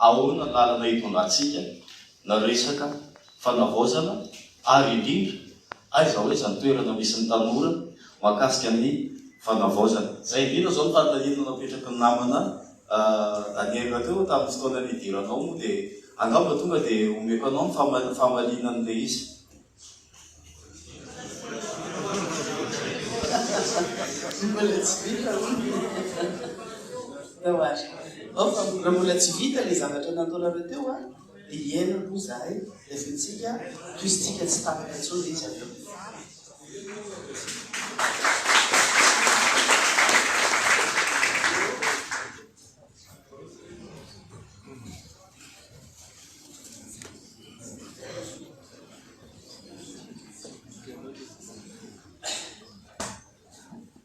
Ahoana ny lalana itondrantsika? Na resaka fanavaozana ary indrindra aiza ho aiza ny toerana misy ny tanora mahakasika ny fanavaozana. Izay indrindra izao no tatalina napetraky ny namana Daniel teo tamin'ny fotoana nidiranao moa dia angamba tonga dia omeko anao ny famaliana an'ilay izy. Mbola tsy vita hono. Raha mbola tsy vita ilay zavatra nataonareo teo an, dia hiaina aloha izahay, dia asaintsika tohizintsika tsy tapaka intsony izy avy eo.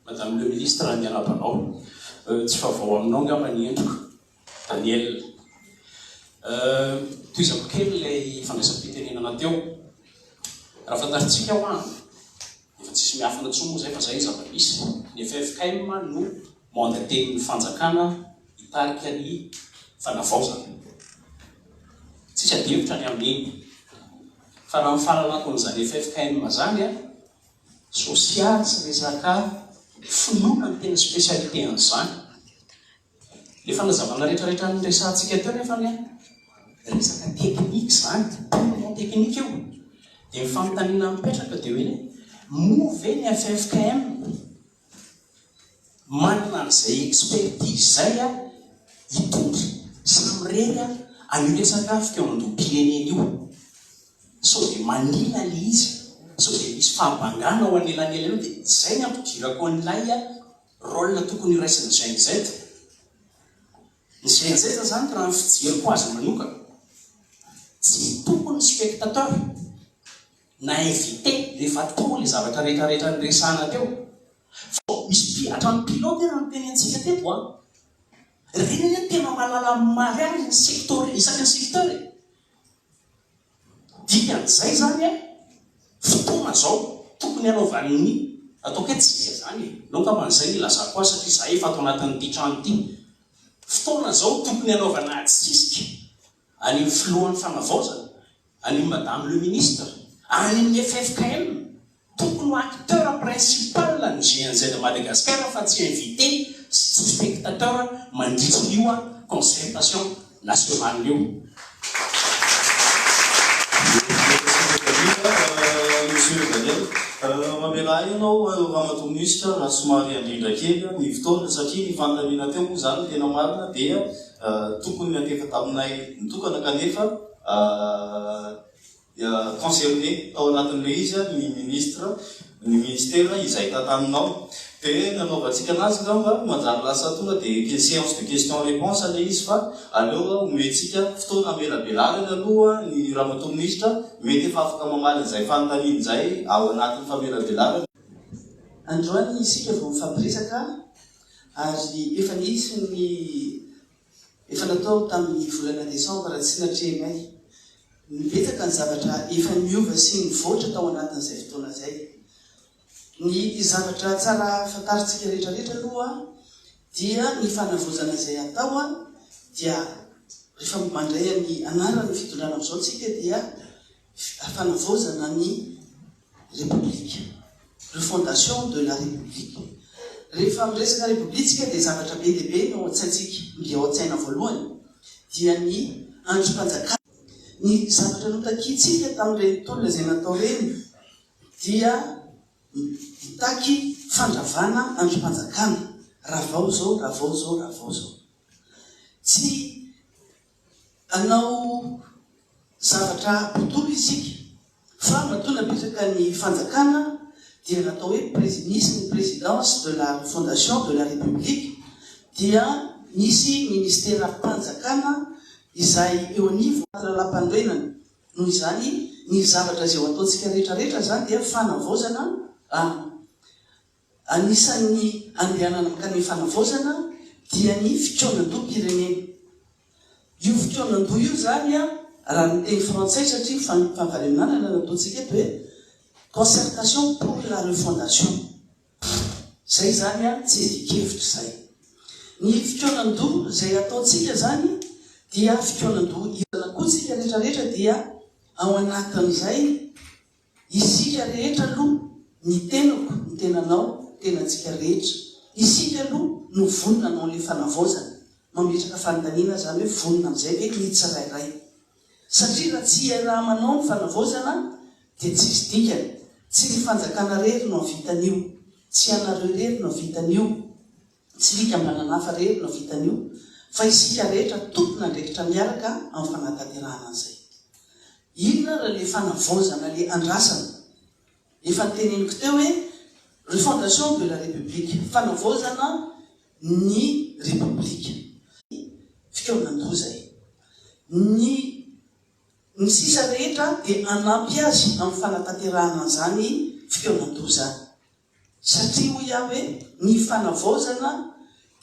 Madame le ministre raha ny anabanao tsy vaovao aminao angamba ny endriko, Daniel. Tohizako kely ilay fandraisam-pitenenana teo. Raha fantarintsika hoa. Efa tsisy miafina tsony moa zay fa zay ny zava-misy. Ny ffkm no mandaten'ny fanjakana hitarika ny fanavaozana. Tsisy adihevitra ny amin'iny. Fa raha ny fahalalakon'izany ffkm zany an, sosialy sy resaka finoana no tena spécialité an'izany. Ilay fanazavana rehetrarehetra niresahantsika teo nefa anie, resaka teknika izany, purement teknika io. Dia ny fanontaniana mipetraka dia hoe, moa ve ny ffkm manana an'izay expertise izay hitondra sy mirery an'io resaka fikaonan-doham-pirenena io? Sao dia manina ilay izy? Sao dia misy fahabangana ao anelanelan'io? Dia izay no ampidirako an'ilay. Rôle tokony iraisin'ny Gen Z? Ny Gen Z zany raha ny fijeriko azy manokana, tsy tompony spectateur na invité rehefa atao le zavatra retraretra niresahana teo fa misy pi hatrany pilote raha ny teny antsika teto a! Reny anie tena mahalala ny mariazy ny secteur isaky ny secteur e! Dikan'izay izany hoe fotoana izao tokony hanaovan'ny, ataoko hoe tsika izany e, aleo angamba izay no ilazako azy satria izahay efa ato anatin'ity trano ity. Fotoana izao tokony hanaovana atsisika an'io filohan'ny fanavaozana, an'io madame le ministre, any amin'ny ffkm, Tokony ho acteur principal ny GNZ Madagascar fa tsy invité sy tsy spectateur mandritra io concertation nationale io. Misaotra Daniel. Monsieur Daniel, mamelà ahy ianao Ramatoa Minisitra raha somary handrindra kely ny fotoana satria ny fanontaniana teo moa izany tena marina dia tokony hateraky taminay mitokana kanefa dia concerné tao anatin'ilay izy ny ministre, ny ministera izay tantaninao dia nanaovantsika anazy ngamba manjary lasa tonga dia séance de question réponse ilay izy fa aleo omentsika fotoana hamelabelarany aloha ny ramatoa ministra mety efa afaka mamaly an'izay fanontaniany izay ao anatin'ny famelabelarana. Androany isika vao mifampiresaka ary efa nisy ny. Efa natao tamin'ny volana desambra tsy natrehinay. Betsaka ny zavatra efa niova sy nivoatra tao anatin'izay fotoana izay. Ny zavatra tsara fantarintsika rehetrarehetra aloha dia ny fanavaozana izay hatao dia rehefa mandray ny anaran'ny fitondrana amin'izao tsika dia Fanavaozana ny Repoblika, Refondation de la République. Rehefa miresaka Repoblika isika dia zavatra be dia be ny ao an-tsaintsika, ny ao an-tsaina voalohany dia ny andrim-panjakana. Ny zavatra notakiantsika tamin'ireny tolona izay natao ireny dia nitaky fandravana andrim-panjakana, ravao izao, ravao izao, ravao izao. Tsy Hanao zavatra aby dolo isika fa matoa napetraka ny fanjakana dia natao hoe presi nisy ny presidence de la fondation de la republique dia nisy ministera panjakana izay eo anivon ny lalampanorenana noho izany ny zavatra izay ho ataontsika rehetra rehetra izany dia fanavaozana an Anisan'ny andehanana mankany amin'ny fanavaozana dia ny fikaonandoham-pirenena. Io fikaonandoha io izany raha ny teny frantsay satria ny fampivavaremenanana no ataontsika eto hoe concertation pour la refondation. Izay izany tsy evi-kevitra izay. Ny fikaonandoha izay ataontsika izany dia fikaonandoha irana koa isika rehetra rehetra dia ao anatin'izay. Isika rehetra aloha, ny tenako, ny tenanao, ny tenantsika rehetra, isika aloha no vonona hanao an'ilay fanavaozana. Mametraka fanontaniana izany hoe vonona amin'izay ve ny tsirairay? Satria raha tsy iaraha-manao ny fanavaozana dia tsisy dikany. Tsy ny fanjakana irery no hahavita an'io. Tsy ianareo irery no hahavita an'io. Tsy fikambanana hafa irery no hahavita an'io fa isika rehetra tompon'andraikitra miaraka amin'ny fanatanterahana an'izay. Inona ary ilay fanavaozana, ilay andrasana? Efa noteneniko teo hoe refondation de la République, fanavaozana ny Repoblika, ny fikaonan-doza e! Ny ny sisa rehetra dia hanampy azy amin'ny fanatanterahana an'izany fikaonan-doza. Satria hoy aho hoe ny fanavaozana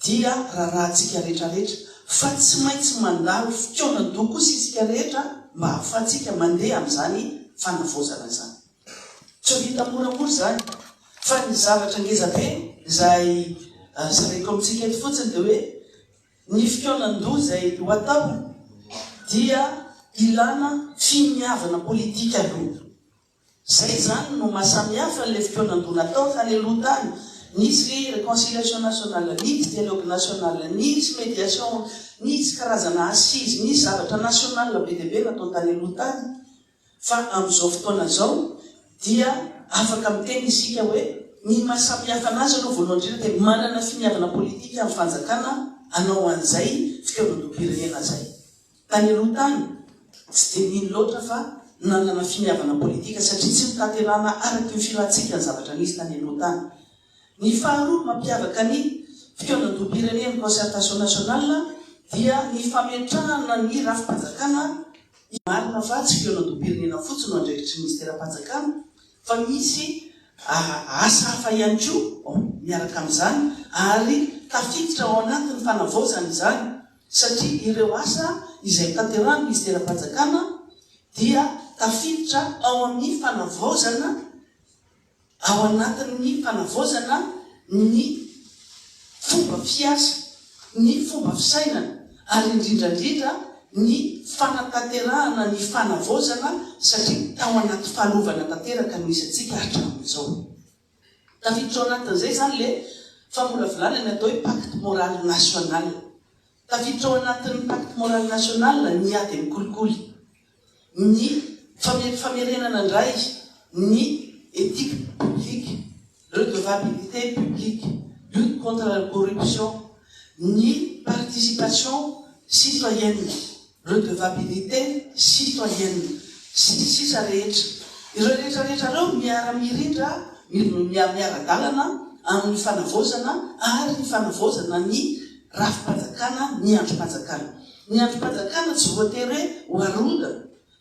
dia raràntsika rehetrarehetra, fa tsy maintsy mandalo fikaonan-doha kosa isika rehetra mba hahafahantsika mandeha amin'izany fanavaozana izany. Tsy ho vita moramora izany, fa ny zavatra ngezabe izay zaraiko amintsika eto fotsiny dia hoe ny fikaonan-doha izay ho atao dia ilàna finiavana politika aloha. Zay zany no maha samy hafa an'ilay fikaonandoha natao tany aloha tany. Nisy reconciliation nationale, nisy dialogue national, nisy mediation, nisy karazana assises, nisy zavatra national be dia be natao tany aloha tany. Fa amin'izao fotoana izao dia afaka miteny isika hoe ny maha samy hafa anazy aloha voalohany indrindra dia manana finiavana politika ny fanjakana hanao an'izay fikaonandoham-pirenena izay. Tany aloha tany, tsy dia nino loatra fa nanana finiavana politika satria tsy notanterahana araky ny filantsika ny zavatra nisy tany aloha tany. Ny faharoa mampiavaka ny fikaonandoham-pirenen'ny Concertation Nationale dia ny fametrahana ny rafi-panjakana Marina fa tsy fikaonandoham-pirenena fotsiny no andraikitry ny Minisiteram-panjakana fa misy asa hafa ihany koa miaraka amin'izany ary tafiditra ao anatin'ny fanavaozana izany. satria ireo asa izay hotanterahan'ny minisiteram-panjakana dia tafiditra ao amin'ny fanavaozana ao anatin'ny fanavaozana ny fomba fiasa, ny fomba fisainana ary indrindra indrindra ny fanatanterahana ny fanavaozana satria tao anaty fahalovana tanteraka no isantsika hatramin'izao. Tafiditra ao anatin'izay izany ilay famolavolana ny atao hoe pacte moral national. Tafiditra ao anatin'ny pacte moral national ny ady amin'ny kolikoly, ny famerenana indray ny éthique publique, redevabilité publique, lutte contre la corruption, ny participation citoyenne. redevabilité, citoyenne, sy ny sisa rehetra. Ireo rehetra rehetra ireo miara-mirindra, miara-dalana amin'ny fanavaozana ary ny fanavaozana ny rafi-panjakana, ny andrim-panjakana. Ny andrim-panjakana tsy voatery hoe ho aronda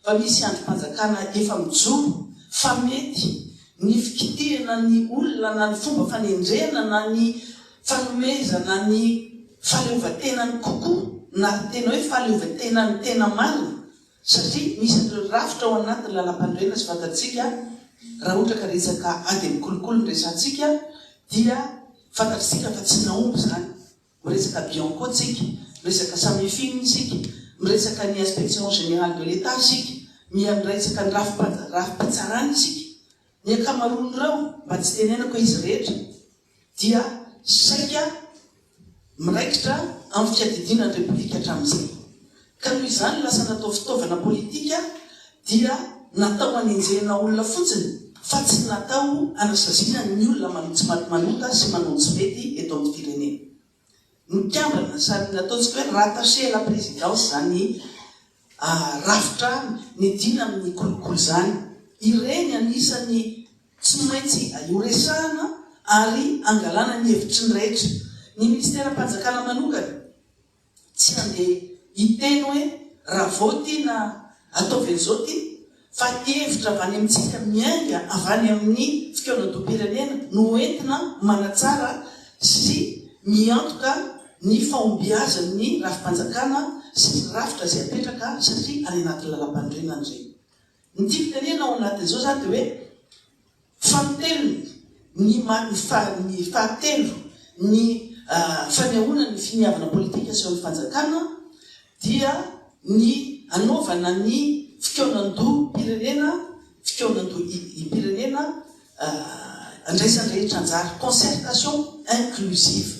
fa misy andrim-panjakana efa mijoro fa mety ny fikitihana ny olona na ny fomba fanendrena na ny Fanomezana ny fahaleovantenany kokoa na tena hoe fahaleovantenany tena marina satria misy an'ireo rafitra ao anatin'ny lalampanorenana sy fantatsika raha ohatra ka resaka ady amin'ny kolikoly no resahantsika dia fantatsika fa tsy nahomby izany. Miresaka Bianco tsika, miresaka Samifin isika, miresaka ny Inspection Générale de l'Etat isika, miandraisaka ny rafi-pitsarana isika. Ny ankamaroan'ireo, mba tsy tenenako hoe izy rehetra, dia saika miraikitra amin'ny fiadidiana ny Repoblika hatramin'izay. Ka noho izany lasa natao fitaovana politika dia natao hanenjehana olona fotsiny fa tsy natao hanasaziana ny olona manao tsy maty manota sy manao ny tsy mety eto amin'ny firenena. mikambana sady ny ataontsika hoe rattaché à la présidence izany rafitra midina amin'ny kolikoly izany. Ireny anisan'ny tsy maintsy horesahana ary hangalana ny hevitry ny rehetra. Ny minisiteram-panjakana manokana tsy handeha hiteny hoe raha vao ity na ataovy an'izao ity. fa hevitra avy any amintsika miainga avy any amin'ny fikaonandoham-pirenena no entina manatsara sy miantoka ny fahombiazan'ny rafi-panjakana sy ny rafitra izay apetraka satria any anaty lalampanorenana ireny. Ny dikan-kanina ao anatin'izao izany dia hoe. Fampitelony, ny ny fahatelo ny fanehoana ny finiavana politika asehon'ny fanjakana dia ny hanaovana ny fikaonandoham-pirenena, fikaonandoham-pirenena andraisan'ny rehetra anjara, concertation inclusive.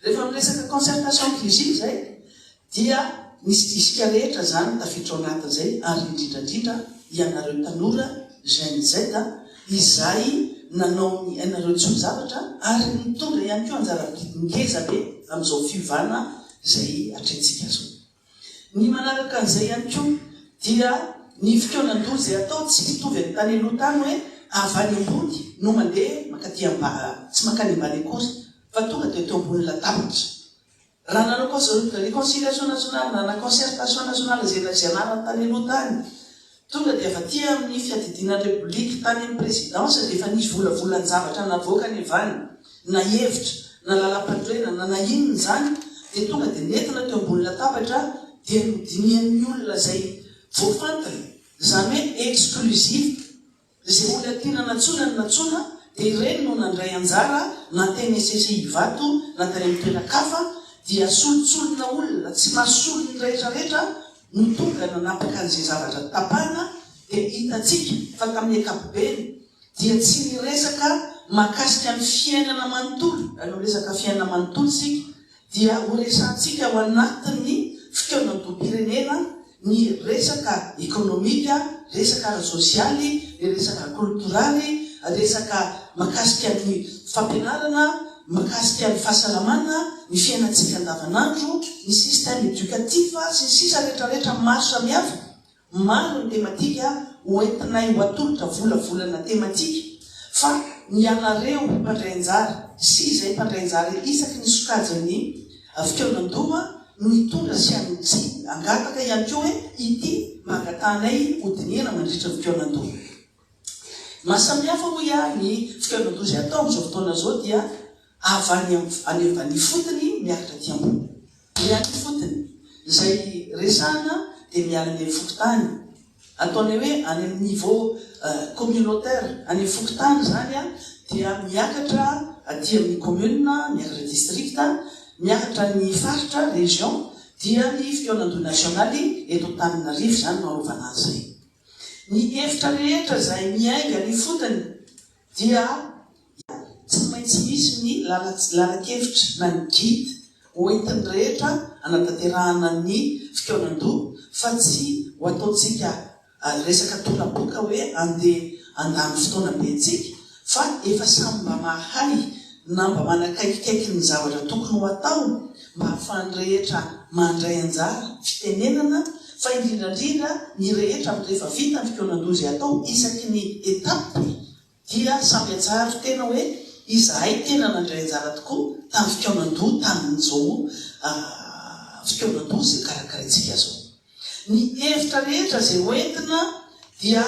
Rehefa miresaka concertation inclusive izay dia misy disque rehetra izany tafiditra ao anatiny izay ary indrindrandrindra ianareo tanora Gen Z izay nanao ny ainareo tsy ho zavatra ary nitondra ihany koa anjara ngezabe amin'izao fiovana izay atrehintsika izao. Ny manaraka an'izay ihany koa dia ny fikaonan-doha izay atao tsy mitovy amin'ny tany aloha tany hoe avy any ambony no mandeha mankaty ambany, tsy mankany ambany akory fa tonga dia teo ambonin'ny latabatra. Raha nanao réconciliation nationale na concertation nationale izay navianarany tany aloha tany Tonga dia avy aty amin'ny fiadidiana ny Rebolika, tany amin'ny Prezidansa dia efa nisy volavolan-javatra navoakany avy any, na hevitra, na lalam-panorenana, na na inona izany, dia tonga dia nentina teo ambony latabatra, dia nodinihan'ny olona izay voafantina, jamais exclusif. Izay olona tiana nantsoina no nantsoina dia ireny no nandray anjara na teny Ecc Ivato na tany amin'ny toeran-kafa dia solotsolona olona tsy mahasolo ny rehetrarehetra no tonga nanapaka an'izay zavatra tapahana dia hitantsika fa tamin'ny ankapobeny dia tsy niresaka mahakasika ny fiainana manontolo raha resaka fiainana manontolo isika dia ho resahantsika ao anatin'ny fikaonandoham-pirenena ny resaka ekonomika, resaka ara-tsosialy, ny resaka ara-koltoraly, resaka makasika ny fampianarana, makasika ny fahasalamana, ny fiainantsika andavanandro, ny système éducatif, sy ny sisa retraretra maro samihafa Maro ny tematika ho entinay ho atolotra volavolana tematika fa ny ianareo mpandray anjara sy izay mpandray anjara isaky ny sokajin'ny fikaonandoha no hitondra sy hangataka ihany koa hoe ity no hangatahanay hodinihana mandritra ny fikaonandoha. Mahasamihafa hoy aho ny fikaonandoha izay atao amin'izao fotoana izao dia avy any amin'ny any ifotony miakatra aty ambony. Ny any ifotony izay resahana dia miala any amin'ny fokontany, ataonay hoe any amin'ny niveau communautaire, any amin'ny fokontany izany dia miakatra aty amin'ny commune, miakatra district, miakatra ny faritra, région, dia ny fikaonandoha nasionaly eto Antananarivo izany no arovana an'izay. Ny hevitra rehetra izay miainga ny fotony dia tsy maintsy misy ny lalan-kevitra na ny guide ho entin'ny rehetra hanatanterahana ny fikaonandoha fa tsy ho ataontsika resaka tora-boka hoe andeha handany fotoana be antsika fa efa samy mba mahay na mba manakaikikaiky ny zavatra tokony ho atao mba hahafahan'ny rehetra mandray anjara, fitenenana, fa indrindra indrindra ny rehetra amin'ny rehefa vita ny fikaonan-doha izay atao isaky ny étape dia samy hatsaharo tena hoe izahay tena nandray anjara tokoa tamin'ny fikaonan-doha tamin'izao fikaonan-doha izay karakaraintsika izao. Ny hevitra rehetra izay hoentina dia.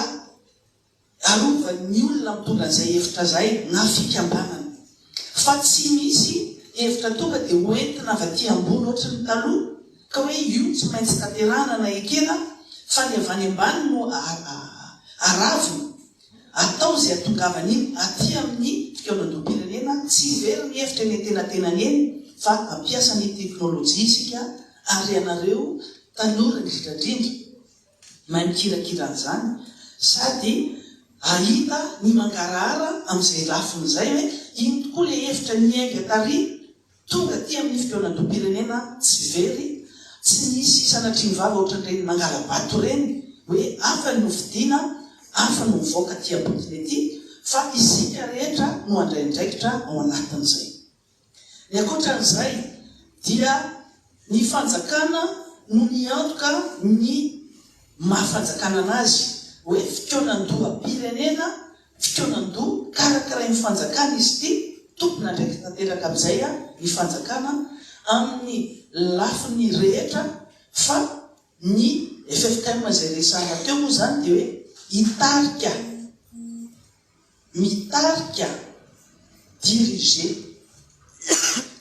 arovan'ny olona mitondra an'izay hevitra izay na fikambanana. Fa tsy misy hevitra tonga dia ho entina avy aty ambony ohatry ny taloha ka hoe io no tsy maintsy tanterahana na ekena fa ny avy any ambany no aravina. Atao izay atongavana iny aty amin'ny fikaonandoham-pirenena, tsy very ny hevitra eny antenatenany eny fa ampiasa ny teknolojia isika ary ianareo tanora indrindrandrindra, Mahay mikirakira an'izany sady ahita ny mangarahara amin'izay lafiny izay hoe iny tokoa ilay hevitra niainga tary tonga aty amin'ny fikaonandoham-pirenena tsy very, tsy nisy sanatria ny vava ohatran'ireny mangala-bato ireny hoe hafa ny nofidiana, hafa no mivoaka aty am-potony aty fa isika rehetra no handray andraikitra ao anatin'izay. Ny ankoatran'izay dia ny fanjakana no miantoka ny maha fanjakana anazy hoe fikaonandoham-pirenena, fikaonandoha karakirain'ny fanjakana izy ity, tompon'andraikitra tanteraka amin'izay ny fanjakana amin'ny lafiny rehetra fa ny ffkm izay resahana teo moa izany dia hoe hitarika. mitarika, diriger,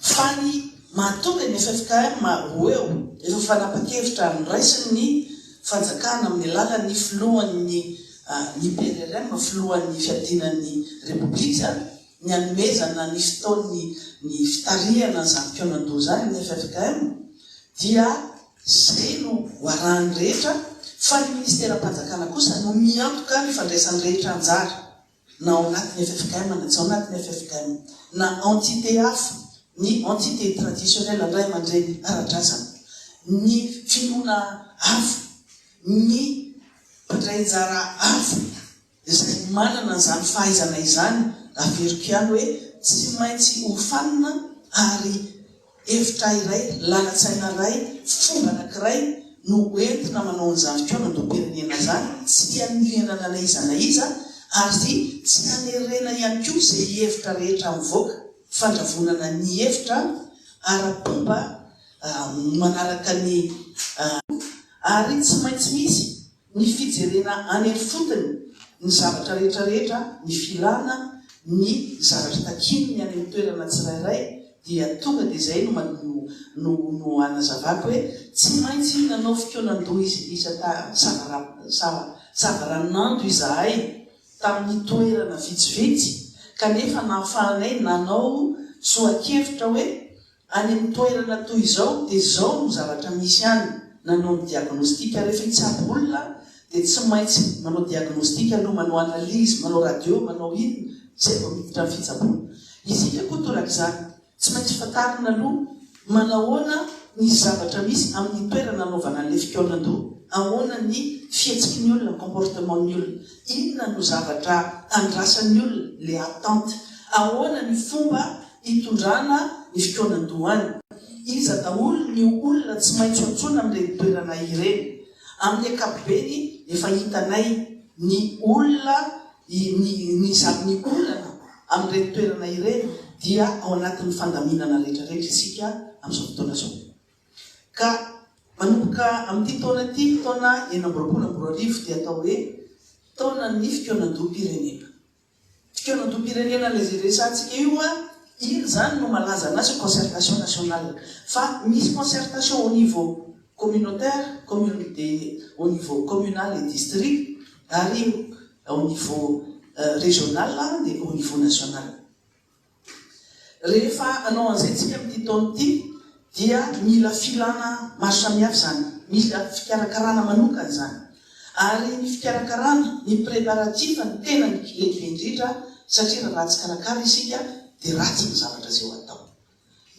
fa ny mahatonga ny ffkm ho eo rehefa fanapan-kevitra noraisin' ny fanjakana amin' ny alalan' ny filohan' ny ny PRRM, filohan' ny fiadiana ny Repoblika, ny hanomezana ny fotoany ny fitarihana izany mpihaonan-doha izany ny ffkm dia Izay no hoarahan'ny rehetra fa ny Ministeram-panjakana kosa no miantoka ny fandraisan'ny rehetra anjara na ao anatin'ny ffkm na tsy ao anatin'ny ffkm na entité hafa, ny entité traditionnelle ny ray aman-dreny ara-drazana, ny finoana hafa, ny mpandray anjara hafa. Izay manana izany fahaizana izany, averiko ihany hoe tsy maintsy hofanina ary hevitra iray, lalan-tsaina iray, fomba anankiray no entina manao an'izany fikaonandoham-pirenena izany, tsy hianiliana n'anaiza na iza ary tsy hanerena ihany koa izay hevitra rehetra mivoaka, fandravonana ny hevitra ara-pomba manaraka ny. Ary tsy maintsy misy ny fijerena any ifotony ny zavatra rehetra rehetra, ny filana ny zavatra takian'ny any amin'ny toerana tsirairay dia tonga dia izay no no no hanazavako hoe tsy maintsy nanao fikaonan-doha izy iza ta sava sava savaranando izahay tamin'ny toerana vitsivitsy kanefa nahafahanay nanao tsoa-kevitra hoe Any amin'ny toerana toy izao dia izao no zavatra misy any, nanao ny diagnostic, rehefa hitsabo olona dia tsy maintsy manao diagnostic aloha, manao analyse, manao radio, manao inona, izay vao miditra ny fitsaboana. Isika koa torak'izany, tsy maintsy fantarina aloha manahoana ny zavatra misy amin'ny toerana anaovana an'ilay fikaonandoha, ahoana ny fihetsiky ny olona, comportement ny olona, inona no zavatra andrasan'ny olona, le attente, ahoana ny fomba Hitondrana ny fikaonan-dohany. Iza daholo ny olona tsy maintsy antsoina amin'ireny toerana ireny? Amin'ny ankapobeny, efa hitanay ny olona, ny, ny zavon'ny olana amin'ireny toerana ireny dia ao anatin'ny fandaminana rehetrarehetra isika amin'izao fotoana izao. Ka manomboka amin'ity taona ity, taona enina amby roapolo amby roa arivo, dia atao hoe taonan'ny fikaonan-doham-pirenena. Fikaonantom-pirenena ilay izay resahantsika io an! Iny izany no malaza anazy ho concertation nationale. Fa misy concertation au niveau communautaire, commune dia au niveau communal et district ary au niveau régional dia au niveau national. Rehefa hanao an'izay isika amin'ity taona ity dia mila filana maro samihafa izany, mila fikarakarana manokana izany. Ary ny fikarakarana, ny préparatif no tena lehibe indrindra satria raha ratsy karakara isika dia ratsy ny zavatra izay ho atao.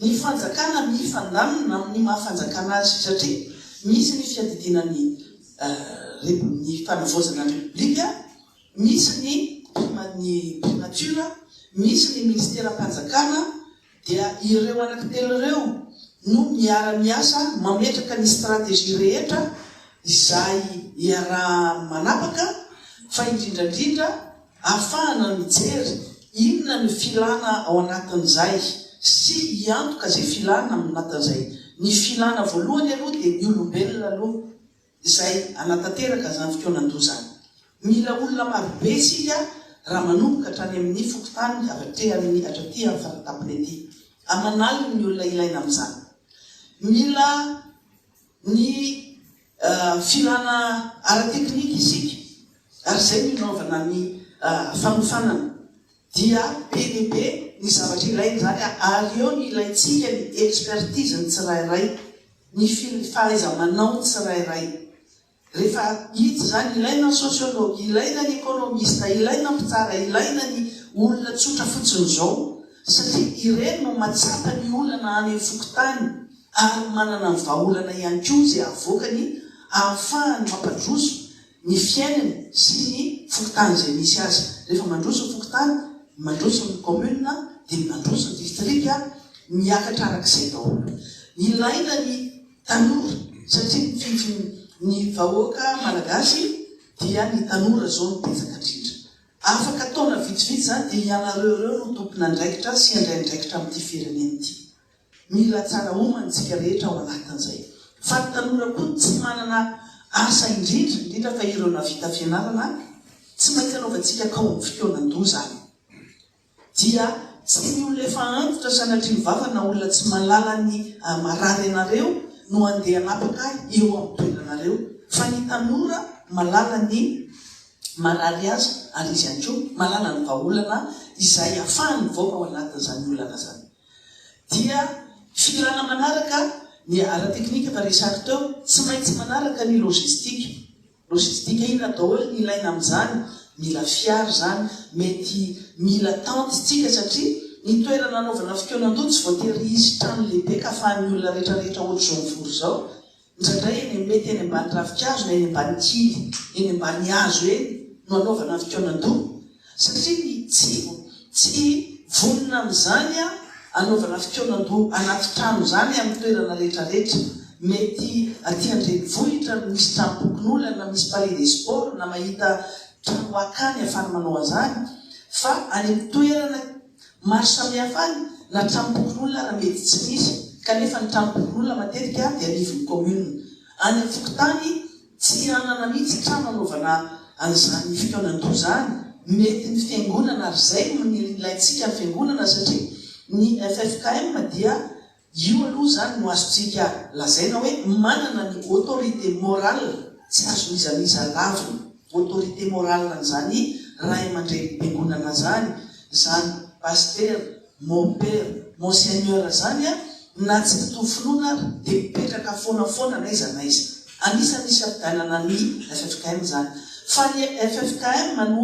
Ny fanjakana mifandamina amin'ny maha fanjakana azy satria misy ny fiadidiana ny ny fanavaozana ny repoblika, misy ny ny primature, misy ny minisiteram-panjakana, dia ireo anaky telo ireo no miara-miasa mametraka ny stratégie rehetra izay iaraha-manapaka fa indrindra indrindra ahafahana mijery inona no filana ao anatin'izay sy hiantoka izay filana ao anatin'izay. Ny filana voalohany aloha dia ny olombelona aloha. izay hanatanteraka izany fotoanan-doha izany. Mila olona marobe isika raha manomboka hatrany amin'ny fokontany hatraty amin'ny hatraty amin'ny faratapony ety aman'aliny ny olona ilaina amin'izany. Mila ny filana ara-teknika isika ary izay no inaovana ny fanofanana. Dia be dia be ny zavatra ilaina izany ary eo no ilaintsika ny expertise ny tsirairay ny fahaiza-manao ny tsirairay. Rehefa hita izany, ilaina ny sociologue, ilaina ny economiste, ilaina ny mpitsara, ilaina ny olona tsotra fotsiny izao, satria ireny no matsapa ny olana any amin'ny fokontany ary manana ny vahaolana ihany koa izay avoakany ahafahany mampandroso ny fiainany sy ny fokontany izay misy azy. Rehefa mandroso ny fokontany, mandroso ny commune dia mandroso ny distrika, miakatra arak'izay daholo. Ilaina ny tanora satria mifidy ny vahoaka malagasy dia ny tanora izao no betsaka indrindra. Afaka taona vitsivitsy izany dia ianareo ireo no tompon'andraikitra sy handray andraikitra amin'ity firenena ity. Mila tsara homana isika rehetra ao anatin'izay. Fa ny tanora koa no tsy manana asa indrindra indrindra fa ireo navita fianarana tsy maintsy anaovantsika kaomin'ny fotoanan-doha izany. Dia tsy ny olona efa antitra sanatria mivavaka na olona tsy mahalala ny marary anareo no handeha hanapaka ahy eo amin'ny toeranareo fa ny tanora mahalala ny marary azy ary izy ihany koa mahalala ny vahaolana izay afahany mivoaka ao anatin'izany olana izany. dia filana manaraka ny ara-teknika efa resako teo, tsy maintsy manaraka ny logistika. Logistika inona daholo ny ilaina amin'izany? Mila fiara izany, mety mila tente isika satria ny toerana anaovana fikonan-doha tsy voatery hisy trano lehibe ka afahan'ny olona rehetrarehetra ohatr'izao mivory izao. Indraindray eny mety eny ambany ravinkazo na eny ambany kivy eny ambany hazo eny no anaovana fikaonan-doha satria ny tsy tsy vonona amin'izany anaovana fikaonan-doha anaty trano izany amin'ny toerana rehetra rehetra. Mety aty an-drenivohitra no misy tranom-pokonolona na misy palais des sports na mahita trano akany ahafana manao an'izany fa any amin'ny toerana Maro samihafa any na trano pokonolona na mety tsy misy kanefa ny trano pokonolona matetika dia anivon'ny commune. Any amin'ny fokontany tsy hanana mihitsy trano hanaovana an'izany fikaonan-doza any. Mety ny fiangonana ary izay no ilaintsika ny fiangonana satria ny ffkm dia Io aloha izany no azontsika lazaina hoe manana ny autorité morale tsy azo mizamiza lavina. Autorité morale an'izany ray aman-drenim-piangonana izany, izany Pasitera, Mon Père, Mon Seigneur izany an, na tsy mitovy finoana ary dia mipetraka foana foana n'aiza n'aiza. Anisan'ny misy fifidianana ny ffkm izany. Fa ny ffkm no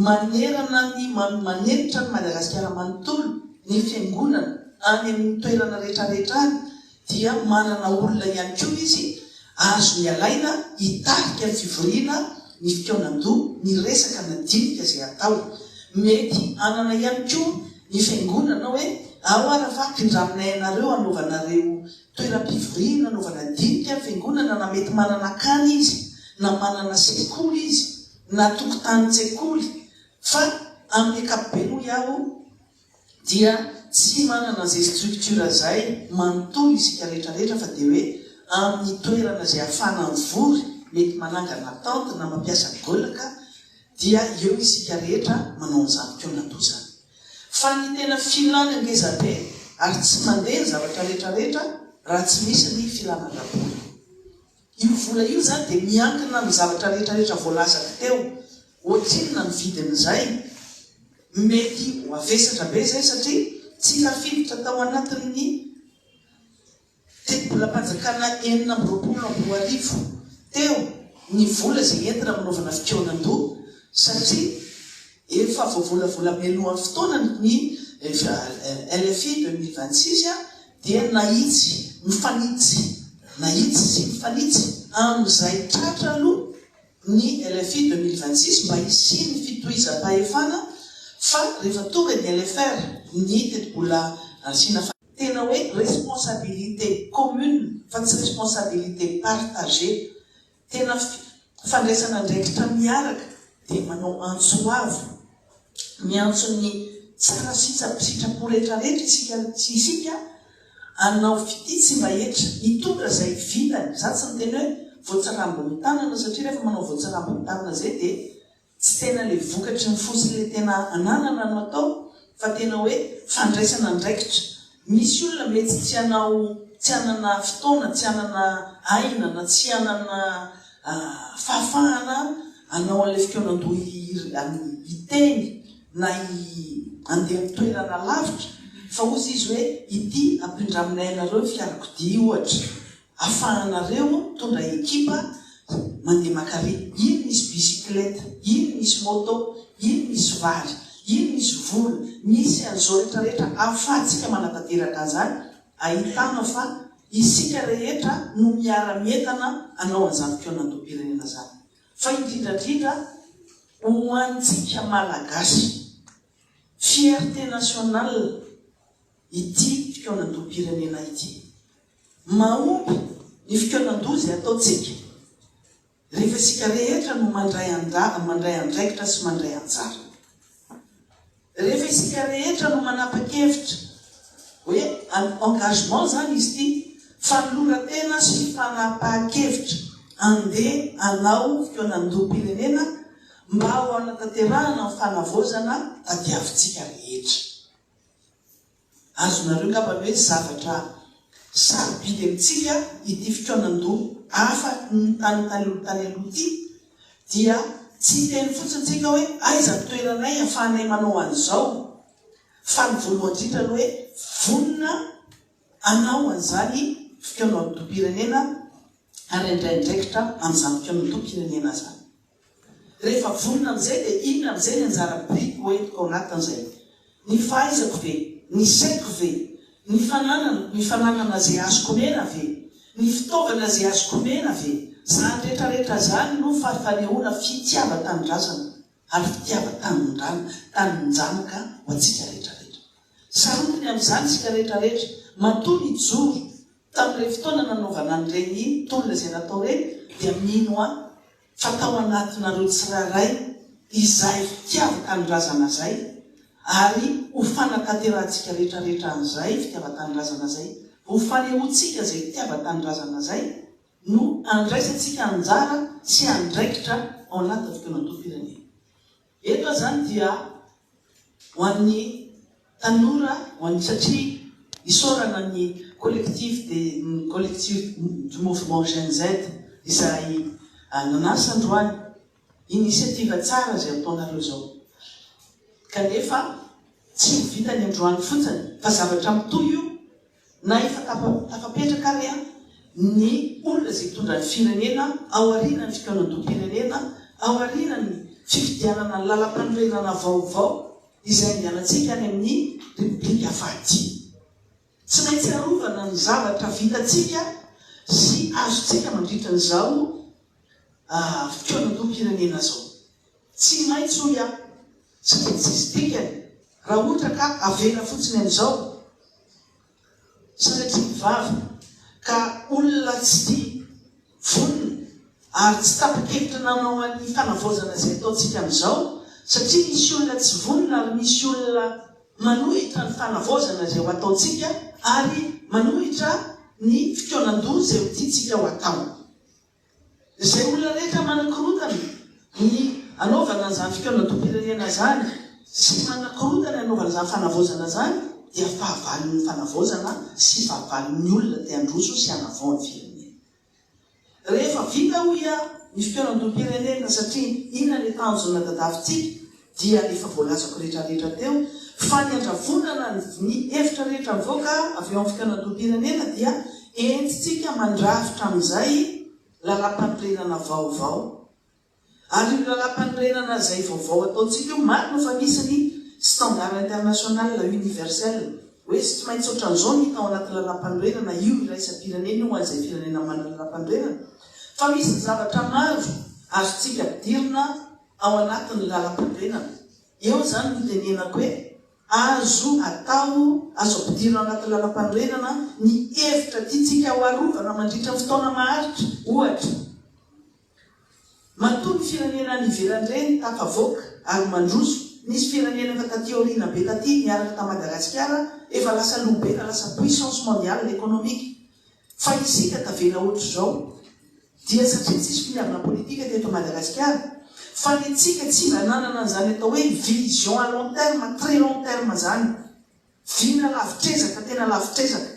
manerana ny, manenitra an'i Madagasikara manontolo. Ny Fiangonana, any amin' ny toerana rehetrarehetra any, dia manana olona ihany koa izy azony alaina hitarika ny fivoriana, ny fikaonan-doha, ny resaka madinika izay hatao. Mety hanana ihany koa ny Fiangonana hoe, Ao ara fa pindraminay anareo hanaovanareo toeram-pivoriana, hanaovana dinika ny Fiangonana, na mety manana akany izy, na manana sekoly izy, na tokotanin-tsekoly, fa amin' ny ankapobeny hoy aho, dia tsy manana izay structure izay manontolo isika rehetra rehetra fa dia hoe amin'ny toerana izay afahana mivory mety manangana tente na mampiasa goelaka dia eo isika rehetra manao an'izany ko natoa izany fa ny tena filana ngeza be ary tsy mandeha ny zavatra rehetra rehetra raha tsy misy ny filana ara-bola. Io vola io izany dia miankina amin'ny zavatra rehetra rehetra voalazako teo. Ohatrinona ny vidin'izay? Mety ho avesatra be izay satria tsy tafiditra tao anatin'ny tetibolam-panjakana enina amby roapolo amby roa arivo teo ny vola izay entina manaovana fikaonan-doha satria Efa voavolavola mialohan'ny fotoanany ny LFI deux mille vingt six dia nahitsy mifanitsy nahitsy sy mifanitsy amin'izay tratra aloha ny LFI deux mille vingt six mba hisian'ny fitohizam-pahefana fa rehefa tonga ny LFR ny tetibola asiana Tena hoe responsabilité commune fa tsy responsabilité partagée Tena fandraisana andraikitra miaraka dia manao antso avo, miantso ny tsara sy sitrapo rehetra rehetra isika sy isika hanao fitia tsy mba hetra, hitondra izay vilany, za tsy miteny hoe voatsirambin'ny tanana satria rehefa manao voatsirambin'ny tanana izay dia Tsy tena le vokatry ny fo sy le tena ananana no atao fa tena hoe fandraisana andraikitra. Misy olona mety tsy hanao, tsy hanana fotoana, tsy hanana aina na tsy hanana fahafahana hanao an'ilay fikaonandoha hiteny na handeha amin'ny toerana lavitra fa ozy izy hoe ity ampindraminay anareo ny fiarakodia ohatra. Afahanareo mitondra ekipa mandeha makare, iny misy bisikileta, iny misy moto, iny misy vary, iny misy vola, misy an'izao rehetra rehetra ahafahantsika manatanteraka an'izany, ahitana fa isika rehetra no miara-mientana hanao an'izany fihaonandoham-pirenena izany. Fa indrindra indrindra ho antsika Malagasy, fierté nationale ity fihaonandoham-pirenena ity. Mahomby ny fikaonan-doha izay ataontsika rehefa isika rehetra no mandray andaha, mandray andraikitra sy mandray anjara. Rehefa isika rehetra no manapa-kevitra hoe engagement izany izy ity, fanoloran-tena sy fanapahan-kevitra andeha hanao fikaonan-doham-pirenena mba ho hanatanterahana ny fanavaozana tadiavintsika rehetra. Azonareo angamba ny hoe zavatra sarobidy amintsika ity fikaonan-doha hafa tany taloha tany aloha ity, dia tsy hiteny fotsiny tsika hoe aiza ny toeranay ahafahanay manao an'izao, fa ny voalohany indrindra ny hoe vonona hanao an'izany fikaonan-doham-pirenena ary handray andraikitra amin'izany fikaonan-doham-pirenena izany. Rehefa vonona amin'izay dia inona amin'izay ny anjara biriko ho entiko ao anatin'izay? Ny fahaizako ve? Ny saiko ve? Ny fanananako, ny fananana izay azoko omena ve? Ny fitaovana izay azoko omena ve? Izany rehetrarehetra izany no fanehoana fitiavan-tanindrazana ary fitiavan-tanindrana, taninjanaka ho antsika rehetrarehetra. Saroty ny amin'izany isika rehetrarehetra. Matoa nijoro tamin'ireny fotoana nanaovana an'ireny tolona izay natao ireny dia mino ahy, fa tao anatinareo tsirairay izay fitiavan-tanindrazana zay ary ho fanatanterahantsika retraretra an'izay fitiavan-tanindrazana zay, ho fanehoantsika zay fitiavan-tanindrazana zay no andraisantsika anjara sy andraikitra ao anatin'ny fikaonantom-pirenena. Eto aho izany dia ho an'ny tanora ho an'ny satria isaorana ny collectif des ny collectif du mouvement Gen Z izay nanasa androany initiative tsara izay ataonareo izao kanefa tsy ho vita ny androany fotsiny fa zavatra mitohy io Na efa tafapetraka ary ny olona izay hitondra ny firenena ao aorianan'ny fikaonandoham-pirenena, ao aorianan'ny fifidianana ny lalampanorenana vaovao izay andehanantsika any amin'ny Repoblika fahadimy. Tsy maintsy arovana ny zavatra vitantsika sy azontsika mandritra an'izao fikaonandoham-pirenena izao. Tsy maintsy hoy aho. Tsy mety tsy hisy dikany raha ohatra ka avela fotsiny amin'izao sanatria ny vava ka olona tsy tia vonona ary tsy tapa-kevitra nanao an'ny fanavaozana izay ataontsika amin'izao satria misy olona tsy vonona ary misy olona manohitra ny fanavaozana izay ho ataontsika ary manohitra ny fikaonan-doha izay ho tiantsika ho atao. Izay olona rehetra manakorontana ny hanaovana izany fikaonandoham-pirenena izany sy manakorontana ny hanaovana izany fanavaozana izany dia fahavalon'ny fanavaozana sy fahavalon'ny olona te handroso sy hanavao ny firenena. Rehefa vita hoy aho ny fikaonandoham-pirenena satria inona ny tanjon'Anadadafintsika dia efa voalazako rehetrarehetra teo fa ny handravonana ny hevitra rehetra mivoaka avy eo amin'ny fikanandoham-pirenena dia entintsika mandrafitra amin'izay lalàmpanorenana vaovao ary io lalàmpanorenana izay vaovao ataontsika io marina fa misy ny standard international universel hoe tsy maintsy ohatran'izao ny hita ao anaty lalàmpanorenana io iraisam-pirenena io ho an'izay firenena manana lalàmpanorenana fa misy ny zavatra maro azontsika ampidirina ao anatin'ny lalam-pirenana. Eo izany no itenenako hoe azo atao, azo ampidirina ao anatin'ny lalam-panorenana ny hevitra tiantsika ho arovana mandritra ny fotoana maharitra, ohatra, matoa ny firenena any ivelany ireny tafavoaka ary mandroso, nisy firenena efa taty aoriana be taty niaraka tamin'i Madagasikara efa lasa lobe, efa lasa puissance mondiale économique. Fa isika tavela otrzao dia satria tsisy finiavana politika ny eto Madagasikara, fa ny antsika tsy mba nanana an'izany atao hoe vision à long terme, très long terme izany, vina lavitr'ezaka, tena lavitr'ezaka,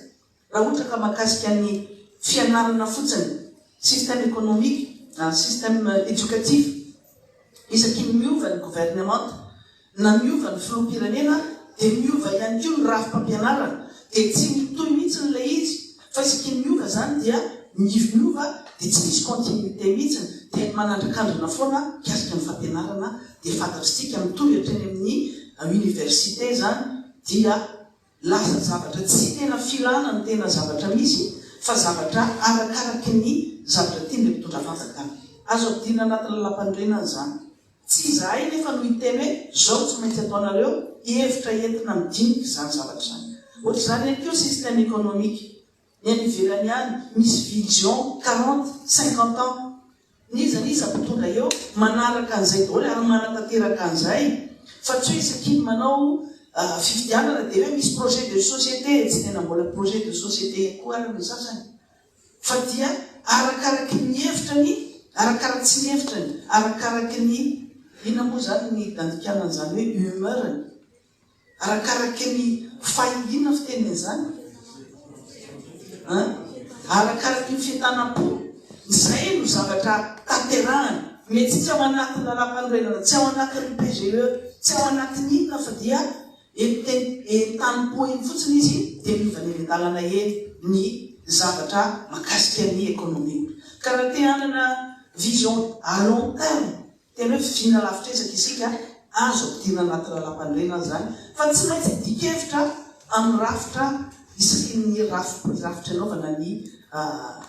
raha ohatra ka makasika ny fianarana fotsiny, système économique, système éducatif, isakin'ny miova ny governemanta. Na miova ny filoham-pirenena dia miova ihany koa ny rafi-pampianarana dia tsy mitohy mihitsiny ilay izy fa isaky ny miova izany dia miova dia tsy misy continuité mihitsiny dia manandrakandrina foana mikasika ny fampianarana dia fantatr'tsika mitohy hatreny amin'ny université izany dia Lasa zavatra tsy tena filana ny tena zavatra misy fa zavatra arakaraky ny zavatra tian'ilay mpitondra fanjakana. Azo ampidirina anaty lalampanorenana izany. Tsy izahay anefa no hiteny hoe izao tsy maintsy ataonareo, hevitra entina midinika izany zavatra izany. Ohatr'izany ihany koa ny système économique. Ny any ivelany any misy vision quarante, cinquante ans n'iza n'iza mpitondra eo manaraka an'izay daholo ary manatanteraka an'izay fa tsy hoe isaky ny manao fifidianana dia hoe misy projet de société tsy tena mbola projet de société koa ary ny sasany fa dia arakaraky ny hevitra ny arakaraky tsy ny hevitra ny arakaraky ny inona moa izany ny dandikana an'izany hoe humeur-ny Arakaraka ny fahingiana fiteny an'izany an! Arakaraka ny fientanam-po, izay no zavatra tanterahana. Mety tsy ao anatin'ny lalàmpanorenana, tsy ao anatin'ny PGE, tsy ao anatin'ny inona fa dia entanimpo eny fotsiny izy dia miova eny an-dalana eny ny zavatra makasika ny ekonomia. Ka raha te hanana vision à long terme Tena hoe vina lavitr'ezaka isika azo ampidirina anaty lalàmpanorenana izany fa tsy maintsy adikevitra amin'ny rafitra isakiny rafitry rafitra anaovana ny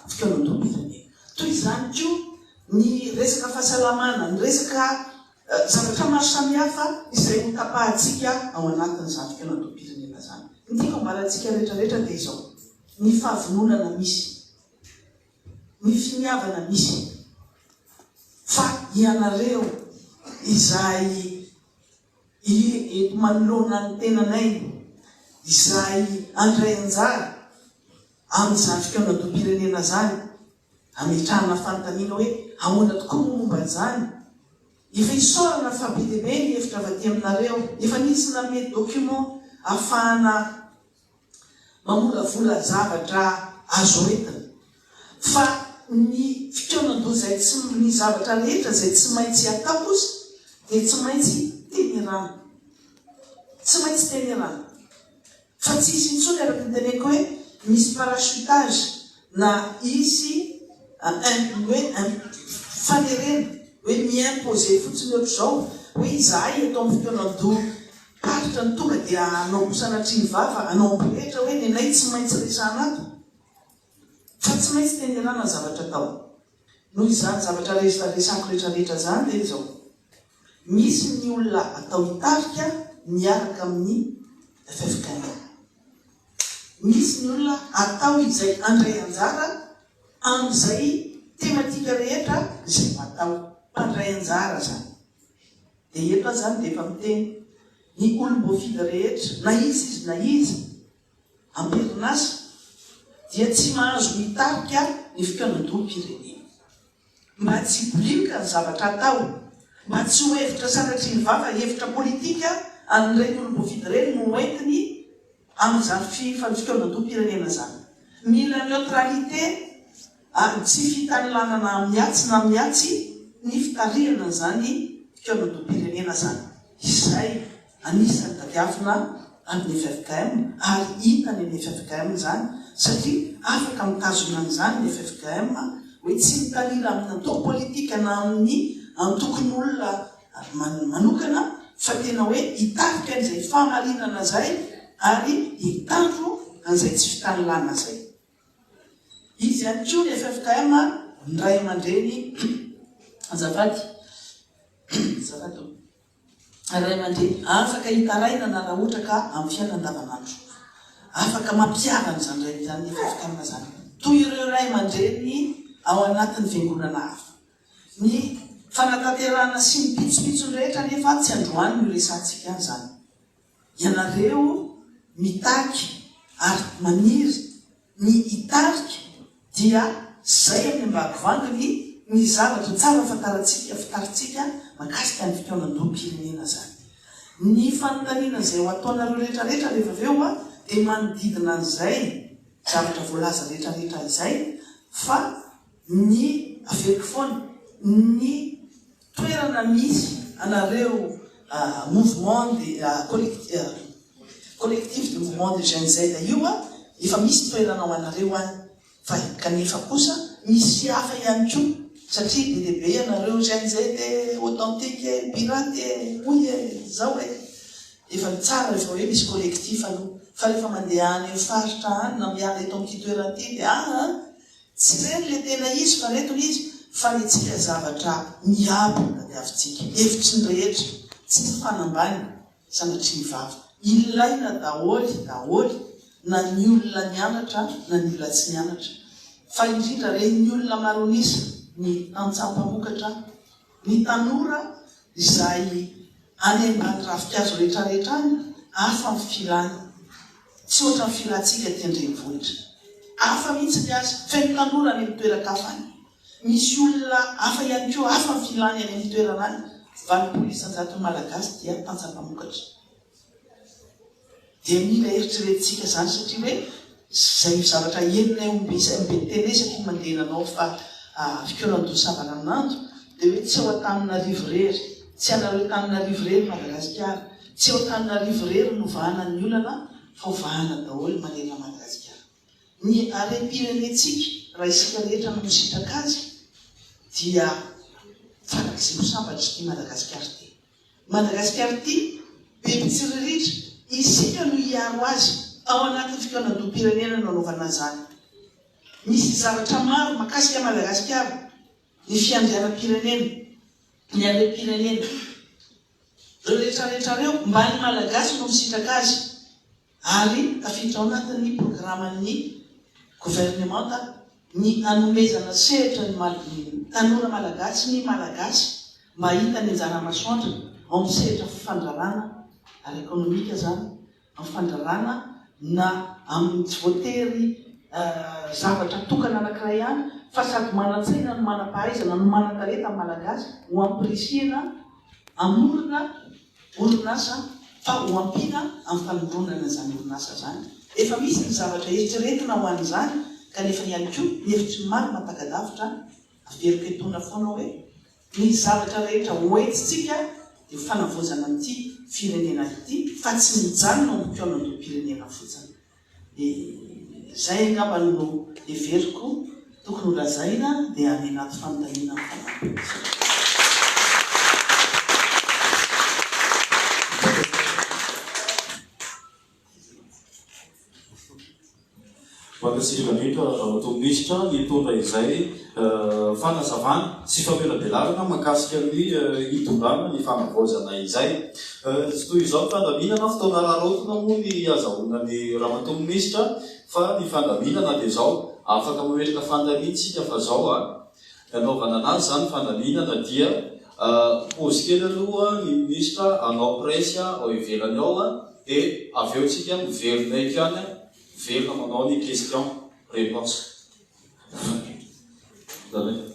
fikaonandoham-pirenena. Toy izany koa ny resaka fahasalamana, ny resaka zavatra maro samihafa izay ho tapahantsika ao anatin'izany fikaonandoham-pirenena izany. Ny tiako hambarantsika rehetra rehetra dia izao, ny fahavononana misy. ny finiavana misy fa ianareo izay eto manoloana ny tenanay izay handray anjara amin'izany fikaonandoham-pirenena izany hametrahana fanontaniana hoe ahoana tokoa moa momba an'izany? Efa isaorana fa be dia be ny hevitra avy aty aminareo. Efa nisy nanome document ahafahana Mamolavola zavatra azo entina. Fa ny fikaonan-doha izay tsy, ny zavatra rehetra izay tsy maintsy atao kosa dia tsy maintsy tenerana. Tsy maintsy tenerana. Fa tsy hisy intsony araka ny teneniko hoe misy parachutage na hisy hoe fanerena hoe mi-imposer fotsiny ohatr'izao hoe izahay eto amin'ny fikaonan-doha. Tatitra ny tonga dia hanao koa sanatria ny vava hanao ampirehitra hoe nenay tsy maintsy resahana ato fa tsy maintsy tenerana ny zavatra atao. Noho izany zavatra resako rehetra rehetra zany dia izao, misy ny olona atao hitarika miaraka amin'ny ffkm, misy ny olona atao izay handray anjara amin'izay tematika rehetra izay ho atao, mpandray anjara zany. Dia eto aho izany dia efa miteny, ny olom-boafidy rehetra, na iza izy na iza, am-perinasa, dia tsy mahazo mitarika ny fikaonandoham-pirenena. Mba tsy hibolinka ny zavatra atao, mba tsy ho hevitra sanatria ny vava, hevitra politika an'ireny olom-boafidy ireny no hoentiny amin'izany fikaonandoham-pirenena izany. Mila neutralité ary tsy fitanilanana amin-atsy na amin-atsy ny fitarihana an'izany fikaonandoham-pirenena izany, izay anisan'ny tadiavina amin'ny ffkm ary hita any amin'ny ffkm izany satria afaka mitazona an'izany ny ffkm hoe tsy mitanila amin'ny antoko politika na amin'ny antokon'olona manokana fa tena hoe hitarika an'izay fahamarinana izay ary hitandro an'izay tsy fitanilana izay. Izy ihany koa ny ffkm ny ray aman-dreny azafady azafady o ny ray aman-dreny afaka hitarainana raha ohatra ka amin'ny fiainana andavanandro afaka mampihavana izany rainy izany ny ffkm izany toy ireo ray aman-dreny ao anatin'ny fiangonana hafa ny fanatanterahana sy ny pitsopitsony rehetra nefa tsy androany no resantsika izany ianareo mitaky ary maniry ny hitarika dia zay any ambagovangany ny zavatra tsara fantarantsika fitarintsika makasika ny fikaonandoham-pirenena zany ny fanontaniana zay ho ataonareo retraretra rehefa avy eo dia manodidina an'izay zavatra voalaza retraretra izay fa ny averiko foana ny Toerana misy anareo mouvement de collectif de mouvement de jeune Z io a, efa misy toerana ho anareo any fa kanefa kosa misy hafa ihany koa satria be dia be ianareo jeune Z e, authentique e, pirate e, hoy e, zao e. Efa ny tsara rehefa hoe misy collectif aloha fa rehefa mandeha any amin'ny faritra any na miala eto amin'ity toerana ity dia aa. Tsy ireny le tena izy fa reto le izy fa ny antsika zavatra miabo no tadiavintsika, hevitry ny rehetra, tsy mifanambany sanatria ny vava, ilaina daholo daholo na ny olona nianatra na ny olona tsy nianatra fa indrindra re ny olona maronisa ny antsampamokatra, Ny tanora izay any ambany ravinkazo rehetrarehetra any, hafa ny filany. Tsy ohatra ny filantsika aty an-drenivohitra. Hafa mihitsy ny azy. Feno tanora any amin'ny toeran-kafa any. Misy olona hafa ihany koa, hafa ny filany any amin'ny toerana any. Valopolo isan-jaton'ny Malagasy dia tantsaha mpamokatra. Dia mila eritreretintsika izany satria hoe izay no zavatra henonay ho be izay no be tena isaky ny mandeha nanao fa fikaonan-doha savaranonando dia hoe tsy ao Antananarivo irery, tsy anareo Antananarivo irery i Madagasikara, tsy ao Antananarivo irery no vahana ny olana fa ho vahana daholo manerana Madagasikara. Ny harem-pirenentsika raha isika rehetra no misitraka azy dia farak'izay ho sambatra i Madagasikara ity. Madagasikara ity, be mpitsiriritra, isika no hiaro azy ao anatin'ny fikaonandoham-pirenena no anaovana izany. Misy zavatra maro makasika an'i Madagasikara, ny fiandrianam-pirenena, ny harem-pirenena. Ireo retraretra ireo, mba ny Malagasy no misitraka azy, ary tafiditra ao anatin'ny programan'ny governemanta ny hanomezana sehatra ny tanora malagasy ny Malagasy mba hahita ny anjara masoandrony ao amin'ny sehatra fandrarana ara-ekonomika izany, amin'ny fandrarana na amin'ny tsy voatery zavatra tokana anankiray ihany fa sady manan-tsaina no manam-pahaizana no manan-talenta ny Malagasy ho ampirisihina hamorona orinasa fa ho ampiana amin'ny fanondronana izany orinasa izany. Efa misy ny zavatra eritreretina ho an'izany kanefa ihany koa ny hevitry ny maro mampaka-davitra averiko etoana foana hoe ny zavatra rehetra hoentintsika dia fanavaozana an'ity firenena ity fa tsy mijanona ho mpikaonandoham-pirenena fotsiny. Dia izay angamba no heveriko tokony ho lazaina dia any anaty fanontaniana ny fanampiny. Mankasitraka indrindra Ramatoa Minisitra nitondra izay. Fanazavana sy famelabelarana mahakasika ny hitondrana ny fanavaozana izay. Tsy toy izao ny fandaminana, fotoana araraotina moa ny hazahoana ny Ramatoa Minisitra fa ny fandaminana dia izao. Afaka mametraka fanontaniana isika fa izao ny hanaovana anazy izany fandaminana dia pause kely aloha ny Minisitra hanao presse ao ivelany ao dia avy eo isika miverina eto ihany Miverina manao ny question réponse.